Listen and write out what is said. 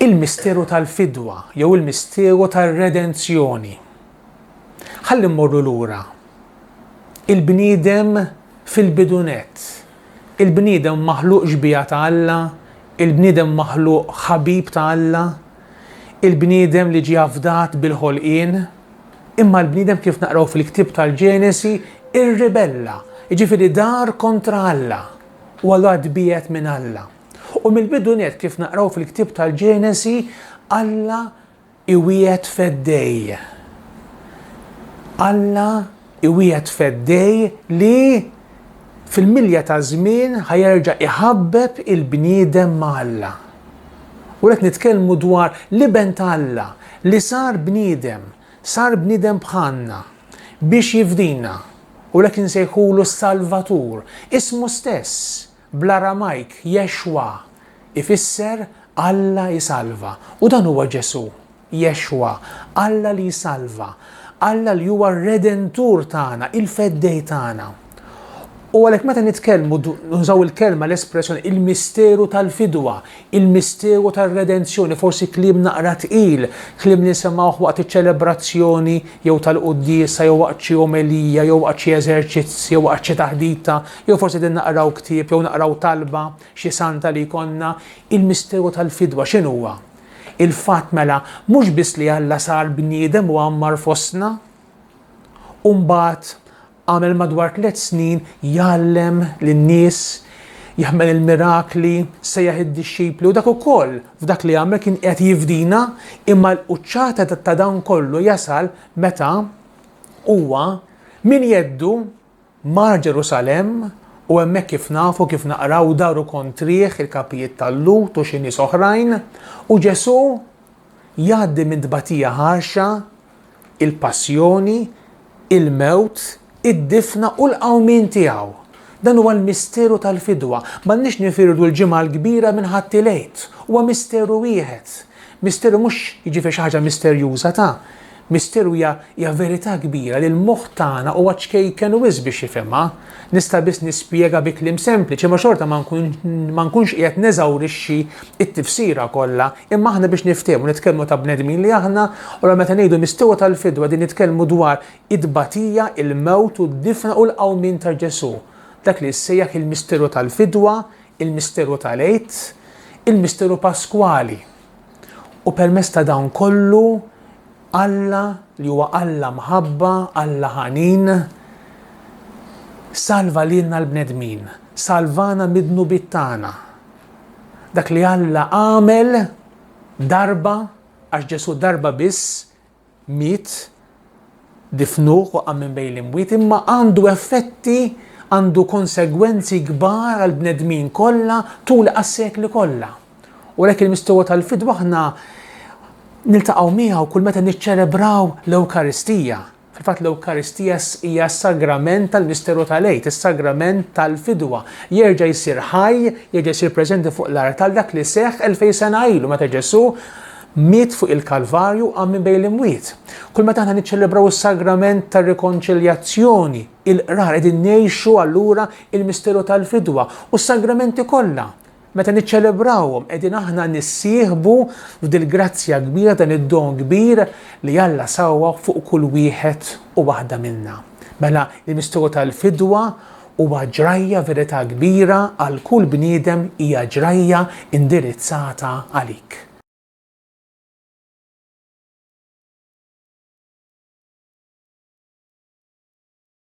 il-misteru tal-fidwa jew il-misteru tar-redenzjoni. Ħalli mmorru lura. Il-bniedem fil-bidunet. Il-bniedem maħluq xbija ta' Alla, il-bniedem maħluq ħabib ta' Alla, il-bniedem li ġie afdat bil-ħolqien, Imma l-bniedem kif naqraw fil-ktieb tal-Ġenesi irribella, jiġifieri dar kontra Alla, u allura tbiegħed minn Alla. U mill-bidu nett kif naqraw fil-ktieb tal-Ġenesi, Alla iwiegħed feddej. Alla iwiegħed feddej li fil-milja ta' żmien ħa jerġa' iħabbeb il-bniedem ma' Alla. U qed nitkellmu dwar l-Iben ta' Alla li sar bniedem, sar bniedem bħalna biex jifdina. U lek insejħulu s-Salvatur, ismu stess, Bl-Aramajk Yeshwa ifisser Alla jsalva, u dan huwa Ġesù, Yeshwa, Alla li jsalva, Alla li huwa r-Redentur tagħna, il-Feddej tagħna. U għalhekk meta nitkellmu nużaw il-kelma l-espressjoni il-misteru tal-fidwa, Il-misteru tar-redenzjoni, forsi kliem naqra tqil, kliem li nsemgħuh waqt iċ-ċelebrazzjoni jew tal-quddiesa jew waqt xi omelija jew waqt xi eżerċizz jew waqt xi taħdita, jew forsi qegħdin naqraw ktieb jew naqraw talba xi santa li jkollna. Il-misteru tal-fidwa x'inhuwa? Il-fatt mela mhux biss li Alla sar bniedem u għammar fostna u mbagħad Għamel madwar tliet snin jgħallem lin-nies, jaħmel il-mirakli, sejjaħ id-dixxipli u dak ukoll f'dak li għamel kien qiegħed jifdina, imma l-quċċata ta' dan kollu jasal meta huwa minn jeddu mar Ġerusalemm u hemmhekk kif nafu, kif naqraw daru kontrih il-kapijiet tal-Lhud u xi nies oħrajn u Ġesù jgħaddi minn tbatija ħarxa il-passjoni, il-mewt, id-difna u l-qawmien tiegħu. Dan huwa l-misteru tal-fidwa. M'għandniex nifirdu l-Ġimgħa l-Kbira minn Ħadd il-Għid. Huwa misteru wieħed. Misteru mhux jiġifieri xi ħaġa misterjuża ta'. Misteru hija hija verità kbira li l-moħħ tagħna huwa ċkejken wisq biex jifhimha. Nista' biss nispjega bi kliem sempliċi imma xorta ma nkunx qiegħed neżawrixxi t-tifsira kollha, imma aħna biex niftehmu nitkellmu ta' bnedmin li aħna, u allura meta ngħidu mistewa tal-fidwa qegħdin nitkellmu dwar it-tbatija, il-mewt u d-difna u l-qawmien ta' Ġesù. Dak li jissejjaħ il-misteru tal-fidwa, il-misteru tal-Għid, il-misteru Paskwali. U permezz ta' dan kollu Alla li huwa Alla mħabba, Alla ħanin, salva lilna l-bnedmin, salvana mid-dnubiet tagħna. Dak li Alla għamel darba, għax Ġesù darba biss miet, difnuh u qam minn bejn l-imwiet, imma għandu effetti għandu konsegwenzi kbar għall-bnedmin kollha tul għas-sekli kollha. U lek il-mistowa tal-fidwa aħna niltaqgħu miegħu kull meta niċċelebraw l-Ewkaristija. Fil-fatt l-Ewkaristija hija s-sagrament tal-misteru tal-għid, is-sagrament tal-fidwa. Jerġa' jsir ħaj, jerġa' jsir preżenti fuq l-art tal dak li seħħ elfej sena ilu meta Ġesu miet fuq il-Kalvarju għam minn bejn l-imwiet. Kull meta aħna niċċelebraw is-sagrament tar-rikonċiljazzjoni, il-qrar qegħdin ngħixu allura il-misteru tal-fidwa u s-sagramenti kollha Meta niċċelebrawhom qegħdin aħna nissieħbu f'dil-grazzja kbira, dan id-don kbir li Alla sawwagħ fuq kull wieħed u waħda minna. Mela, il-misteru tal-fidwa huwa ġrajja, verità kbira għal kull bniedem, hija ġrajja indirizzata għalik.